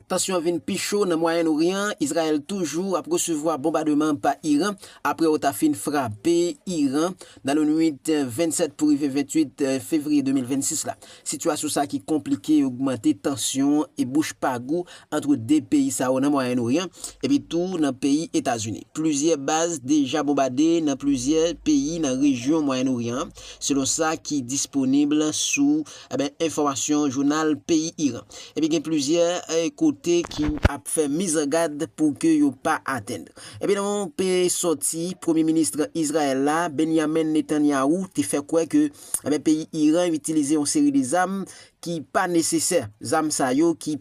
Tansyon vin pi cho nan Mwayen Oryan, Izrayèl toujou ap resevwa bonbademan pa Iran apre yo ta fin frape Iran nan lannuit 27 pou rive 28 fevriye 2026 la. Sitiyasyon sa ki konplike ogmante tansyon e bouch pa gou antre 2 peyi sa yo nan Mwayen Oryan epi tou nan peyi Etazini. Plizyè baz deja bonbade nan plizyè peyi nan rejyon Mwayen Oryan an, selon sa ki disponib sou Enben, enfòmasyon jounal peyi Iran. Epi gen plizyè kote ki ap fè mizangad pou ke yo pa atenn. Epi nan yon pe sòti, premye minis Izrayèl la, Benyamin Netanyahu, te fè kwè ke enben peyi Iran itilize yon seri de zam ki pa nesesè. Zam sa yo ki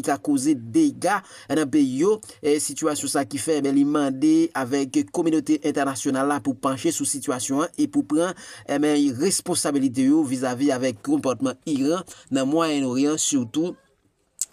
ka koze dega nan peyi yo, sitiyasyon sa ki fè li mande avèk kominote entènasyonal la pou panche sou sitiyasyon an e pou pran responsabilite yo vizavi avèk konpòtman Iran nan Mwayen Oryan sitou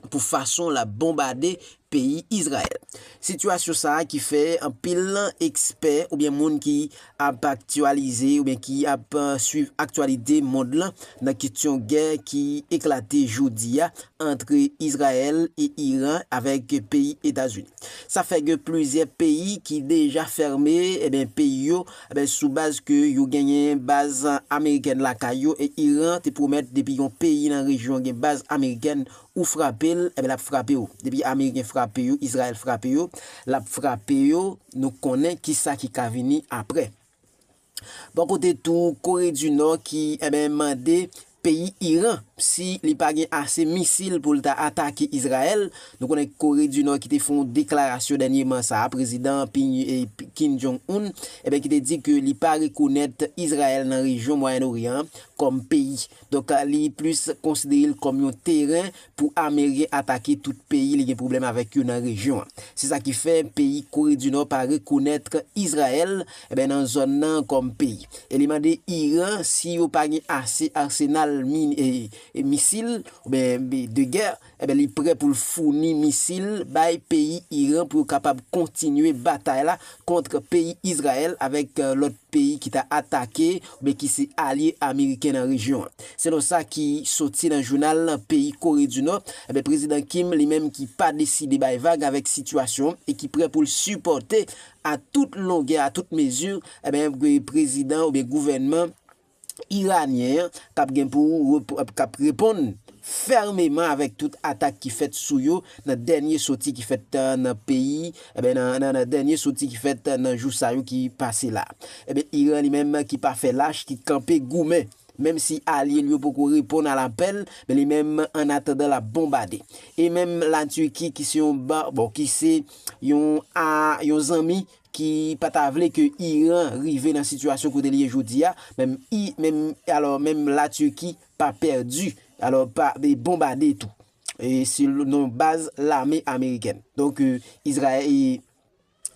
pou fason l ap bonbade peyi Izrayèl. Sitiyasyon sa ki fè anpil ekspè oubyen moun ki ap aktyalize oubyen ki ap swiv aktyalite mond lan nan kestyon gè ki eklate jodi a ant Izrayèl e Iran avèk peyi Etazini. Sa fè gen plizyè peyi ki deja fèmen eh peyi yo eh sou baz ke yo genyen baz amerikèn lakay yo e Iran te pwomèt depi yon peyi nan rejyon gen baz amerikèn Ou frape l, enben l ap frape w. Depi Ameriken frape yo, Izrayèl frape yo, l ap frape yo, nou konnen ki sa ki ka vini apre. Bò kote tou, Kore di Nò ki, enben, mande peyi Iran, si li pa gen ase misil pou l ta atake Izrayèl, nou konnen Kore di Nò ki te fè yon deklarasyon dènyeman sa a, Prezidan Kim Jong Un, enben, ki te di ke li pa rekonèt Izrayèl nan rejyon Mwayen Oryan an kòm peyi. Donk li plis konsidere l kòm yon teren pou amerien atake tout peyi li gen pwoblèm avèk yo nan rejyon an. Se sa ki fè peyi Kore di Nò pa rekonèt Izrayèl nan zòn nan kòm peyi. E li mande Iran si yo pa gen ase arsenal min e misil oubyen de gè. Enben li prè pou l founi misil bay peyi Iran pou yo kapab kontinye batay la kont peyi Izrayèl avèk lòt peyi ki ta atake oubyen ki se alye ameriken nan rejyon an. Selon sa ki soti nan jounal peyi Kore di Nò, enben Prezidan Kim li menm ki pa deside bay vag avèk sitiyasyon e ki prè pou l sipòte a tout longè, a tout mezi, enben prezidan oubyen gouvènman. Iranyen an kap gen pou kap reponn fèmeman avèk tout atak ki fèt sou yo nan dènye soti ki fèt nan peyi nan dènye soti ki fèt nan jou sa yo ki pase la. Ebyen Iran li menm ki pa fè lach ki kanpe goumen menm si alye l yo poko reponn a lapèl men li menm an atandan lap bonbade. E menm la Turquie ki se yon bon ki se yon zanmi ki pa ta vle ke Iran rive nan sitiyasyon kote li ye jodi a, menm i, menm, alò menm la Turquie pa pèdi, alò pa e bonbade tou, e se nan baz lame amerikèn. Donk e Izra e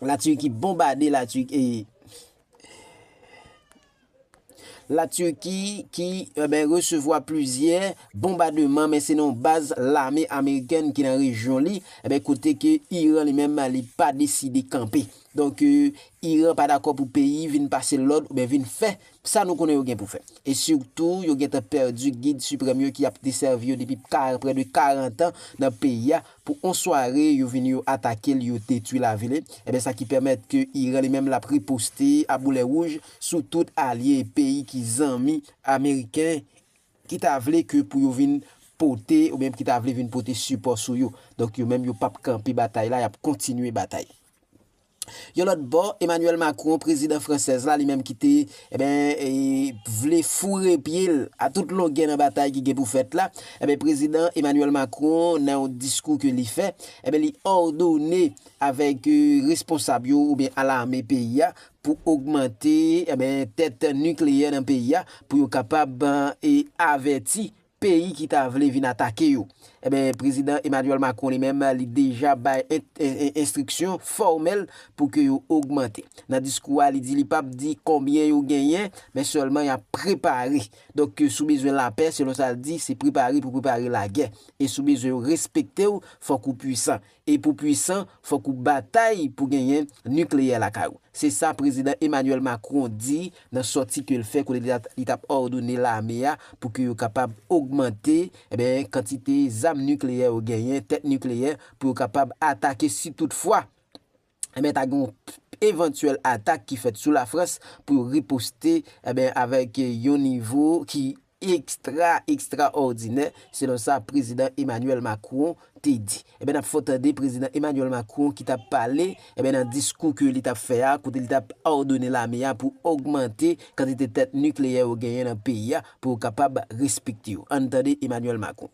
la Turquie bonbade la Turquie e. La Turki ki resevwa plizyè bonbademan men se nan yon baz lame amerikèn ki nan rejyon li kote ke Iran li menm li pa deside kanpe. Donk Iran pa dakò pou peyi vin pase lòd oubyen vin fè sa nou konnen yo gen pou fè. E sitou yo gentan pèdi gid siprèm yo ki ap desèvi yo depi prè de 40 an nan peyi a pou on sware yo vini yo atake l yo detwi lavi li. Ebyen sa ki pèmèt ke Iran li menm l ap riposte a boulè wouj. sou tout alye peyi ki zanmi ameriken ki ta vle ke pou yo vin pote ou byen ki ta vle vin pote sipò sou yo. Donk yo menm yo p ap kanpe batay la, y ap kontinye batay. Yon lòt bò, Emmanuel Macron, prezidan fransèz la, li menm ki te, enben, vle foure pye l a tout longè nan batay ki gen pou fèt la, enben, prezidan Emmanuel Macron nan yon diskou ke li fè, enben, li òdone avèk responsab yo ou byen a lame peyi a, pou ogmante tèt nikleyè nan peyi a pou yo kapab avèti peyi ki ta vle vin atake yo. Prezidan Emmanuel Macron li menm li deja bay enstriksyon fòmèl pou ke yo ogmante. Nan diskou a li di li pap di konbyen yo genyen men sèlman y ap prepare. Donk si w bezwen lapè selon sa l di se prepare pou prepare lagè e si w bezwen yo respekte w fòk ou pwisan. E pou pwisan, fòk ou batay pou genyen nikleyè lakay ou. Se sa Prezidan Emmanuel Macron di nan sòti ke l fè kote li tap òdone lame a pou ke yo kapab ogmante eh kantite zam nikleyè yo genyen, tèt nikleyè, pou yo kapab atake si tout fwa. enben ta gen yon evantyèl atak ki fèt sou Lafrans pou yo riposte enben avèk yon nivo ki ekstra ekstra òdinè selon sa prezidan Emmanuel Macron te di. Enben nap fè w tande prezidan Emmanuel Macron ki tap pale enben nan diskou ke li tap fè a kote li tap òdone lame a pou ògmante kantite tèt nikleyè yo genyen nan peyi a pou yo kapab respekte yo. Ann tande Emmanuel Macron.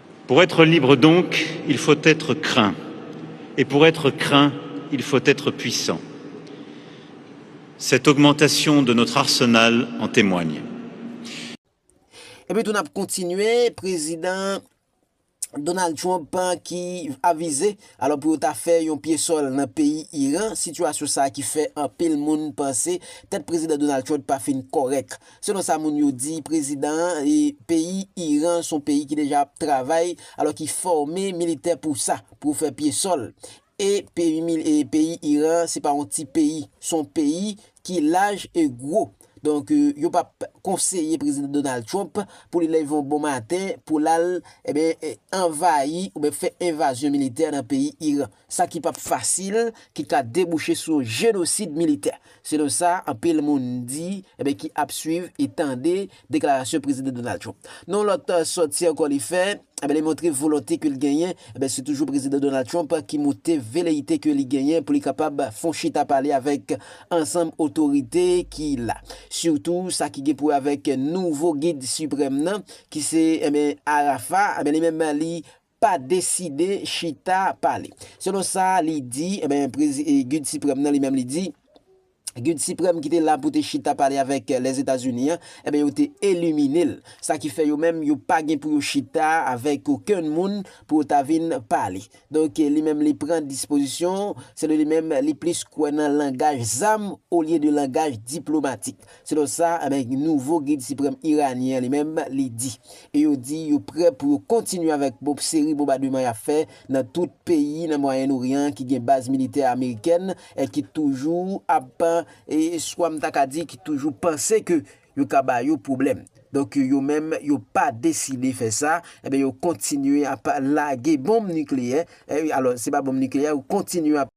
Pour être libre donc, il faut être craint, et pour être craint, il faut être puissant. Cette augmentation de notre arsenal en témoigne. Epi tou nap kontinye, Prezidan Donald Trump ki avize alò pou yo ta fè yon pye sòl nan peyi Iran, sitiyasyon sa ki fè anpil moun panse tèt Prezidan Donald Trump pa fin kòrèk. Selon sa moun yo di prezidan an peyi Iran son peyi ki deja ap travay alò ki fòme militè pou sa pou fè pye sòl e peyi Iran se pa yon ti peyi son peyi ki laj e gwo donk yo pap konseye prezidan Donald Trump pou li leve yon bon maten pou lal envayi oubyen fè envazyon militè nan peyi Iran. sa ki pap fasil, ki ka debouche sou yon jenosid militè, selon sa anpil moun di e ki ap swiv e tande deklarasyon Prezidan Donald Trump. Nan yon lòt sòti ankò li fè, li montre volonte ke l genyen, se toujou Prezidan Donald Trump ki montre veleyite ke li genyen pou li kapab fè yon chita pale avèk ansanm otorite ki la, sitou sa ki gen pou wè avèk nouvo gid siprèm nan ki se Arafat, li menm li. pa deside chita pale. Selon sa li di, enben prezi Gid Siprèm nan li menm li di, Gid Siprèm ki te la pou te chita pale avèk Lèzetazini an, enben yo te elimine l. Sa ki fè yo menm yo pa gen pou yo chita avèk okenn moun pou yo ta vin pale. Donk li menm li pran dispozisyon, selon li menm li plis kwè nan langaj zam olye de langaj diplomatik. Selon sa nouvo Gid Siprèm Iranyen an li menm li di. E yo di yo prè pou yo kontinye avèk seri bonbademan y ap fè nan tout peyi nan Mwayen Oryan ki gen baz militè amerikèn ki toujou ap, swa m ta ka di ki toujou panse ke yo ka ba yo pwoblèm. Donk yo menm yo pa deside fè sa, yo kontinye ap lage bonm nikleyè, alò se pa bonm nikleyè, yo kontinye ap.